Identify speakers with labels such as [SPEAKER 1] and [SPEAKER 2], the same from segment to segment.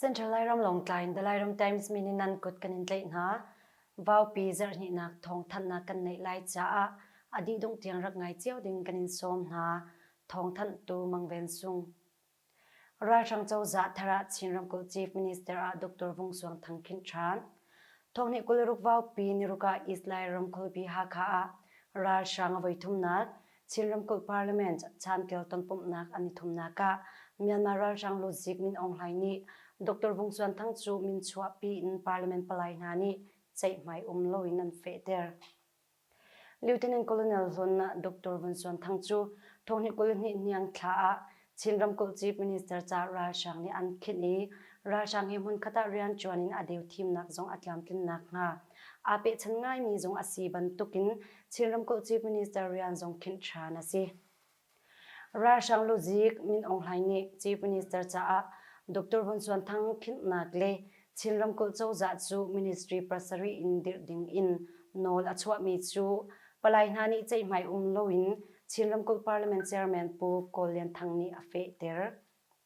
[SPEAKER 1] Central Lairam Longtlai in The Lairam Times min in nan kut kan in tlaih hna. Vaupi zarhnihnak thawngthanhnak kan neih lai caah a dih dung tiang rak ngai cio ding kan in sawm hna. Thawngthanh tu Mang Ven Sung. Ralhrang cozah thar ah Chin ramkulh Chief Minister ah Dr. Vung Suang Thang Khin Than, thawkni kul ruk vaupi Niruka East Lai ramkulhpi Hakha ah ralhrang a voi thumnak Chin ramkulh Parliament chantial tonpumhnak an i thumnak ah Myanmar ralhrang Ludzik Min Aung Hlaing nih Dr. Vung Suan Thang cu min chuahpi in Parliament palai hna nih ceihmai um loin an fehter. Lieutenant Colonel Hlonna Doctor Vun Suan Thang cu thonghni kul hnih niang thla ah Chin ramkulh Chief Minister ca ralhrang nih an khinh i ralhrang hi hmunkhat ah rianṭuan in a deu thimnak zong a tlamtlin nakhnga aa pehchanh ngaimi zong a si bantukin Chin ramkulh Chief Minister rian zong khinh ṭhan a si. Ralhrang luzik Min Aung Hlaing nih Chief Minister caah Dr. Vun Suan Thang philhnak le Chin ramkulh cozah cu ministry pursery in dirh ding in nawl a chuahmi cu palai hna nih ceihmai um loin Chin ramkulh Parliament Chairman Pu Kawl Lian Thang nih a fehter.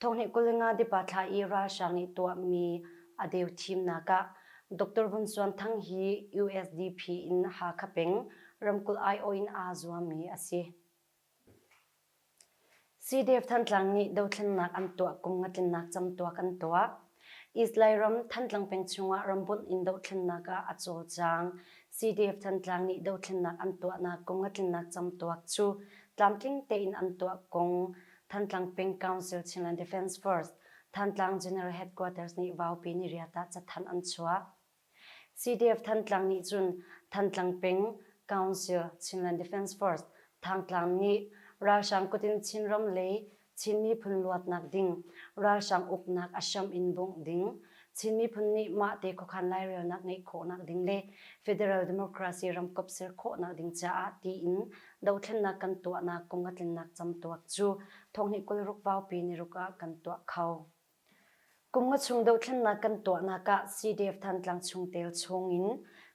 [SPEAKER 1] Thawng nih Kulinga dipa thla i ralhrang nih tuahmi a deu thimnak ah Dr. Vun Suan Thang hi USDP in Hakha peng ramkulh aiawh in aa zuammi a si. Sidef Thantlang nih dothlennak an tuah, kum nga tlinnak cam tuah kan tuah. Islay ram Thantlang peng chungah rambunh in dohthlennak ah a cawlcang. CDF-Thantlang nih dohthlennak an tuahnak kong a tlinnak camtuak cu tlamtling tein an tuah kong Thantlang peng Council Chinland Defence Force, Thantlang General Headquarters nih Vaupi Niriat ah cathanh an chuah. CDF-Thantlang nih cun Thantlang peng Council Chinland Defence Force, Thangtlang, nih ralhrang kut in Chinram lei Chin miphun luatnak ding ralhrang uknak a hram in bungh ding, Chin miphun nih mahte khuakhan lairelnak ngeih khawhnak ding le Federal Democracy ramkap ser khawhnak ding caah tiin dohthlennak kan tuahnak kong a tlinnak camtuak cu thonghnih kul ruk vaupi niruk ah kan tuah kho. Kum nga chung dohthlennak kan tuahnak ah CDF Thantlang chungtel chungin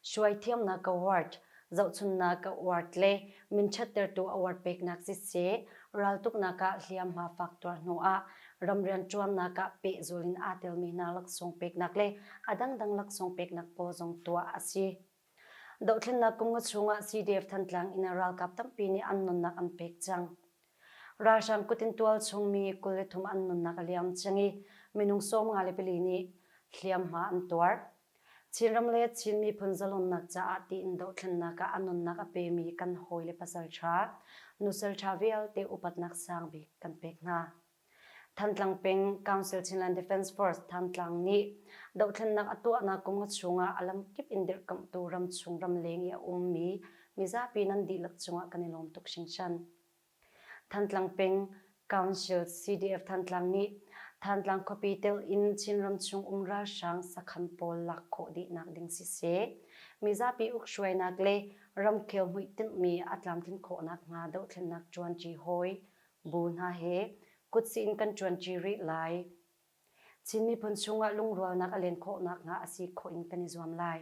[SPEAKER 1] hruaithiamnak award, zohchunhnak award le minṭhattertu award peknak siseh, raltuknak ah hliamhma fak tuar hnuah ram rianṭuannak ah pehzul in aa telmi hna laksawng peknak le a dangdang laksawng peknak pawl zong tuah a si. Dohthlennak kum nga chungah CDF-Thantlang in ralkap tampi nih an nunnak an pek cang. Ralhrang kut in tual chungmi kul le thum an nunnak a liam cang i minung sawm nga le pali nih hliamhma an tuar. Chinram le Chin miphun zalonnak caah tiin dohthlennak ah a nunnak a pemi kan hawile pasal ṭha, nusal ṭha vialte upatnak sang bik kan pek hna. Thantlang peng Council Chinland Defence Force Thantlang nih dohthlennak a tuahnak kum nga chungah a lamkip in dirhkamhtu ramchung ramleng i a ummi mizapi nan dihlak cungah kan i lawm tuk hringhran. Thantlang peng Council CDF Thantlang nih Thantlang khuapi tel in Chinram chung um ralhrang sakhan pawl lak khawh dihnak ding siseh, mizapi ukhruainak le ramkhel hmuitinh mi a tlamtlin khawhnak hnga dohthlennak ṭuanṭi hawi Bu hna he kutzin kan ṭuanṭi rih lai. Chin miphun chungah lungrualnak a len khawh nakhnga a si khawh in kan i zuam lai.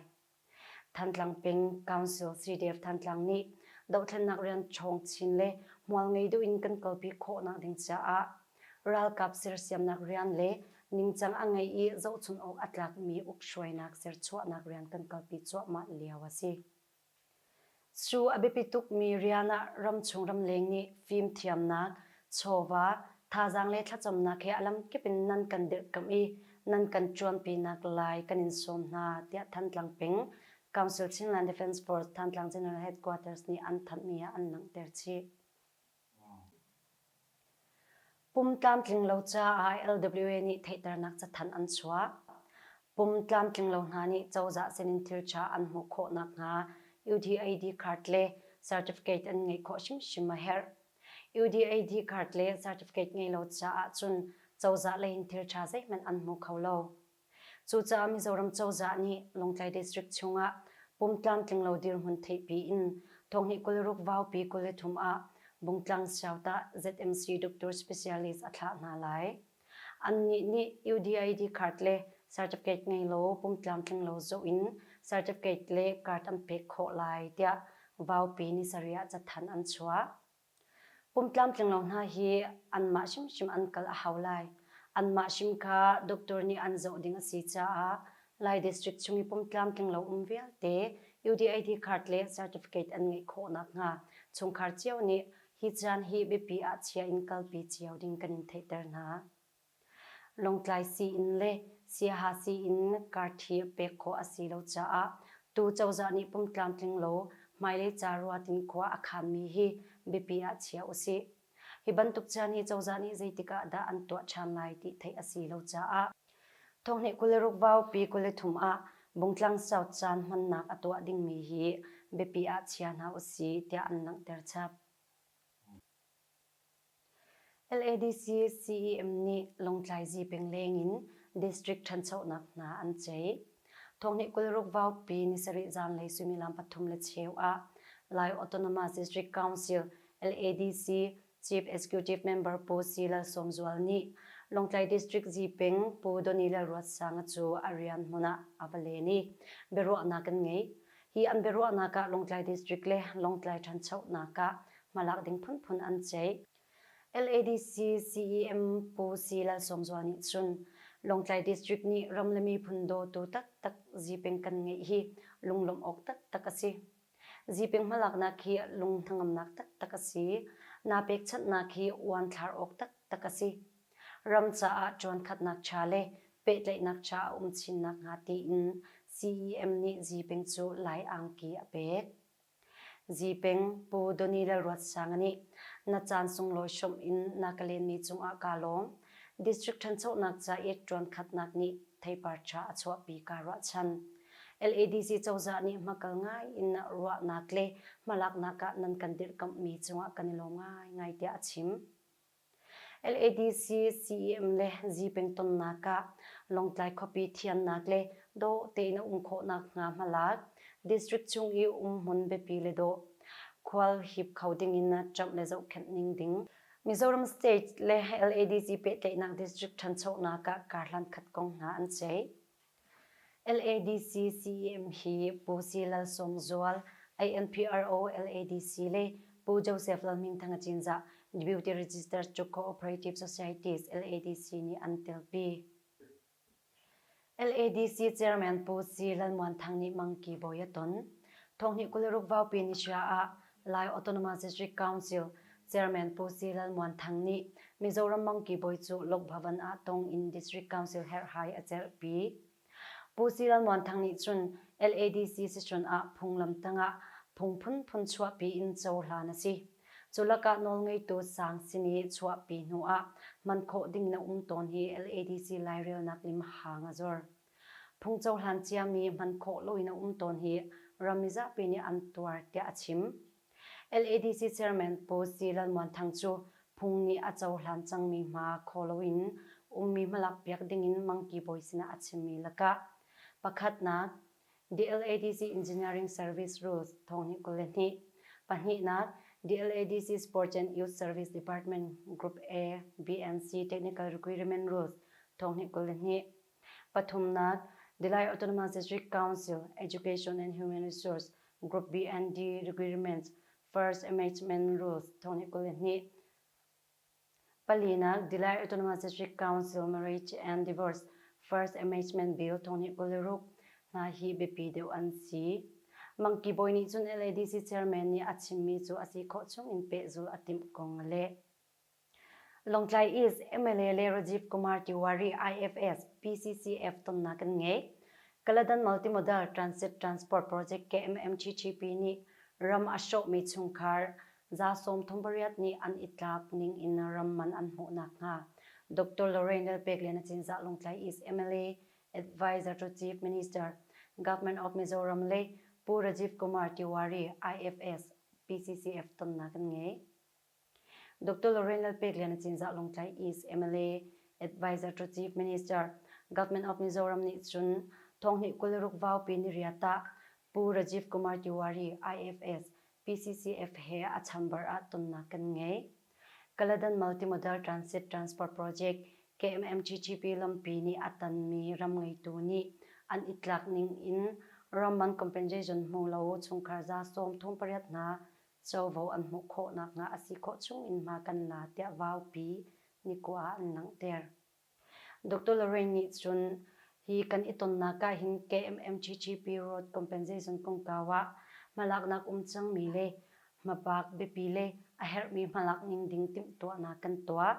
[SPEAKER 1] Thantlang peng Council Sri Dev Thantlang nih dohthlennak rian ṭhawng chin le hmual ngei duh in kan kalpi khawhnak ding caah ralkap sersiamnak rian le ningcang a ngei i zohchunh awk a tlakmi uk hruainak serchuahnak rian kan kalpi cuahmah lio a si. Cu a biapi tukmi rian ah ramchung ramleng nih fimthiamnak, chawva, thazaang le thlacamnak he a lamkip in nan kan dirhkamh i nan kan ṭuanpinak lai kan in sawm hna, tiah Thantlang peng Council Chinland Defence Force Thantlang General Headquarters nih an thanhmi ah an langhter chih. Pum tlamtlinglo caah LWA nih theihternak cathanh an chuah. Pum tlamtlinglo hna nih cozah sinin thilṭha an hmuh khawh nakhnga UDAD card le certificate an ngeih khawh hrimhrim a herh. UDAD card le certificate ngei lo caah cun cozah leiin thilṭha zeihmanh an hmu kho lo. Cucaah Mizoram cozah nih Lawngtlai District chungah pum tlamtlinglo dirhmun theihpi in Thawnghi kul ruk Vaupi kul le thum ah Bungtlang Siautah ZMC Doctor Specialist a thlah hna lai. Annih nih UDID card le certificate ngei law pum tlamtlinglo zoh in certificate le card an pek khawh lai tiah Vaupi Ni sarih ah cathanh an chuah. Kum tlamtlinglo hna hi anmah hrimhrim an kal a hau lai. Anmah hrim kha doctor nih an zoh ding a si caah Lai District chung i kum tlamtlinglo um vialte UDID card le certificate an ngeih khawh nakhnga chungkhar cio nih hi caan hi biapi ah chia in kalpi cio ding kan in theihter hna. Lawngtlai sii-inn le Siaha sii-inn karṭhi pek khawh a si lo caah tu cozah nih pum tlamtling lo hmailei ca ruat in khua a khammi hi biapi ah chia usih. Hi bantuk caan hi cozah nih zeitik ah dah an tuah ṭhan lai ti theih a si lo caah thawnghneh kul le ruk vaupi kul le thum ah Bungtlang South caan hmannak a tuah dingmi hi biapi ah chia hna usih tiah an langhter chap. LADC CEM nih Lungtlai Zipeng lengin district ṭhanchonak hna an ceih. Thawngnih kul ruk vaupi ni sarih zanlei suimilam pathum le cheu ah Lai Autonomous District Council LADC Chief Executive Member Pu Si Lal Sawm Zual nih Lungtlai District Zipeng Pu Donny Lalruatsanga cu a rian hmun ah a va len i biaruahnak kan ngei. Hi an biaruahnak ah Lawngtlai District le Lawngtlai ṭhanchonak ah hmalak ding phunphun an ceih. LADC CEM Pu Si Lalsawmzual nih cun, Lawngtlai District nih ram le miphun dawtu taktak Zipeng kan ngeih hi lunglawmh awk taktak a si. Zipeng hmalaknak hi lung hnangamnak taktak a si. Naa pekchanhnak hi uanthlar awk taktak a si, ram caah cawankhatnak cha le pehtlaihnak cha a um chin nakhnga tiin CEM nih Zipeng cu Lai angki a pek. Zipeng, Pu Donnie Lalruatsanga nih Na caan sunglawi hrawmh in na ka lenmi cungah kaa lawm. District ṭhanchonak caet ṭuankhatnak nih theipar ṭha a chuahpi kaa ruahchan. LADC cozah nih hmakal ngai in ruahnak le hmalaknak ah nan kan dirhkamhmi cungah kan i lawm ngaingai tiah a chim. LADC CEM le zipengtonnak ah Lawngtlai khuapi thiannak le dawh tein a um khawhnak hnga hmalak district chung i um hmun biapi le dawh khual hip kho dingin ṭamh le zohkhenh ning ding Mizoram State le LADC pehtlaihnak district ṭhanchonak ah kar hlan khat kong hna an ceih. LADC CEM hi Pu Si Lal Sawm Zual, ANPRO LADC le Pu Joseph Lal Hming Thang Cinzah, Deputy Registered Cuk Co-operative Societies LADC nih an telpi. LADC Chairman Pu Si Lal Muan Thang nih mangki bawi a ton. Thonghnih kul le ruk vaupi ni hria ah Lai Autonomous District Council Chairman Pu Si Lal Muan Thang nih Mizoram mangki bawi cu Lokbhavan ah tong in District Council herhhai a cerhpi. Pu Si Lal Muan Thang nih cun LADC sicun ah phunglam tangah phung phunphun chuahpi in cohlan a si. Cu lakah nawlngeitu sang sin i chuahpi hnu ah hman khawh ding na um tawn hi LADC lairelnak lim hang a zor. Phung cohlan ciami hman khawh loin a um tawn hi ram mizapi nih an tuar tiah a chim. LADC Chairman Pu Zi Lalmuanthang cu phung nih a cohlan cangmi hma khaw loin ummi hmalakpiak dingin Mangki bawi sinah a chimmi lakah pakhatnak The LADC Engineering Service Rules thong hnih kul le hnih, pahnihnak The LADC Sports and Youth Service Department Group A, BNC Technical Requirement Rules thong hnih kul le hnih, Pathumnak, the Lai Autonomous Council Education and Human Resource Group BND Requirements First Amendment Rules thongni kul le hnih. Palinak, the Lai Autonomous Council Marriage and Divorce First Amendment Bill thongni kul le ruk hna hi biapi deuh an si. Mangki Boy nih cun LADC chairman nih a chimmi cu a si khawh chung in pehzul a timh kong a leh. Lawngtlai East MLA le Rajiv Kumar Tiwari IFS PCCF tonnak kan ngei. Kaladan Multimodal Transit Transport Project KMMTTP nih ram a hrawhmi chungkhar za sawmthum pariat nih an i tlak ning in ram man an hmuh nakhnga Doctor Lorraine Lalpeklian a Cinzah Lawngtlai East MLA Advisor to Chief Minister, Government of Mizoram le Pu Rajiv Kumar Tiwari IFS PCCF tonnak kan ngei. Dr. Lorraine Lalpeklian a cinzah Lung Tlaih is MLA Advisor to Chief Minister Government of Mizoram nih cun Thawngnih kul ruk vaupi niriat ah Pu Rajiv Kumar Tiwari IFS PCCF he a chamber ah tonnak kan ngei. Kaladan Multimodal Transit Transport Project KMMTTP lampi nih a tanmi ram ngeitu nih an i tlak ning in ram mang compensation hmu lo chungkhar za sawm thong pariat hna covo an hmuh khawh nakhnga a si khawh chungin hma kan la tiah Vaupi nikua ah an langhter. Doctor Lorraine nih cun hi kan i tonnak ah hin KMMTTP Road Compensation kongkau ah hmalaknak um cangmi le hmabak biapi le a herhmi hmalak ning ding timhtuahnak kan tuah.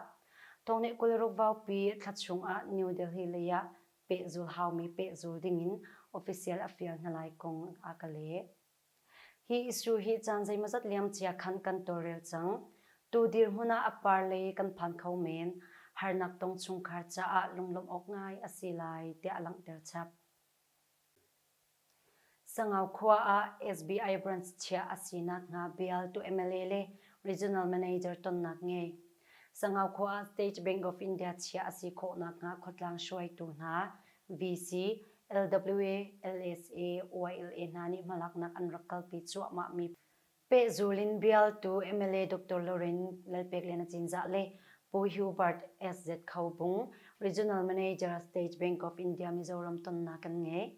[SPEAKER 1] Thawngnih kul-ruk Vaupi thla chung ah New Delhi lei ah pehzul haumi pehzul dingin official a fial hna lai kong a ka leh. Hi issue hi caan zeimawzat liamcia khan kan tawlrel cang. Tu dirhmun ah a par lei kan phan kho men, harnak tong chungkhar caah lunglawmh awk ngai a si lai tiah a langhter chap. Sangau khua ah SBI branch chiah a sinak hnga bial tu MLA le regional manager tonnak ngei. Sangau khua ah State Bank of India chiah a si khawhnak hnga khuatlang hruaitu hna VC, LWA, LSA, YLA hna nih hmalaknak an rak kalpi cuahmah mi pehzul in bialtu mla Doctor Loren Lalpekliana Cinzah le Pu Hubert SZ Kho Bung, Regional Manager State Bank of India Mizoram tonnak kan ngei.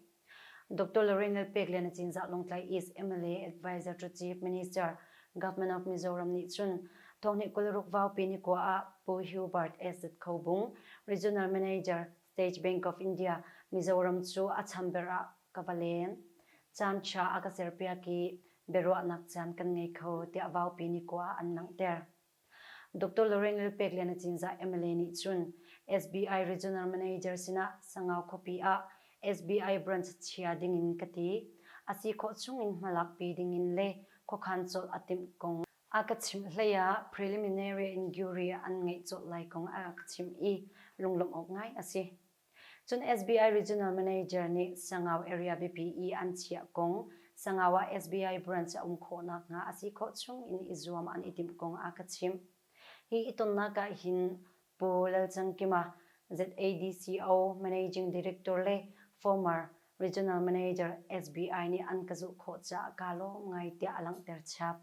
[SPEAKER 1] Doctor Loren Lalpekliana Cinzah Lawngtlai East mla Adviser to Chief Minister, Government of Mizoram nih cun thawhni kul ruk vaupi ni kua ah Pu Hubert SZ Kho Bung, Regional Manager, State Bank of India Mizoram cu a chamber ah ka va leng. Caan ṭha a ka serpiak i biaruahnak caan kan ngei kho tiah Vaupi nih kua ah an langhter. Doctor Lorengl Pek Lian Acinzah mla nih cun SBI Regional Manager sinah Sangau khuapi ah SBI Branch chia dingin ka ti. A si khawh chungin hmalakpi dingin le khuakhan colh a timh kong A ka chimh hleiah preliminary inquiry an ngeih colh lai kong a rak chimh i lunglawmh awk ngai a si. Cun SBI Regional Manager nih Sangau Area biapi i an chiah kong, Sangau ah SBI branch a um khawh nakhnga a si khawh chung in i zuam an i timh kong a ka chimh. Hi i tonnak ah hin Pu Lalchangkima, ZADCO Managing Director le former Regional Manager SBI nih an ka zuh khawh caah kaa lawm ngai tiah a langhter chap.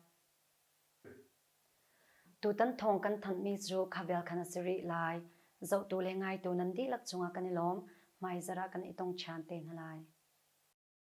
[SPEAKER 1] Tutan thawng kan thanhmi cu Khavel khan a si rih lai. Zohtu le ngaitu nan dihlak cungah kan i lawm. Hmaizarh ah kan i tong ṭhan te hna lai.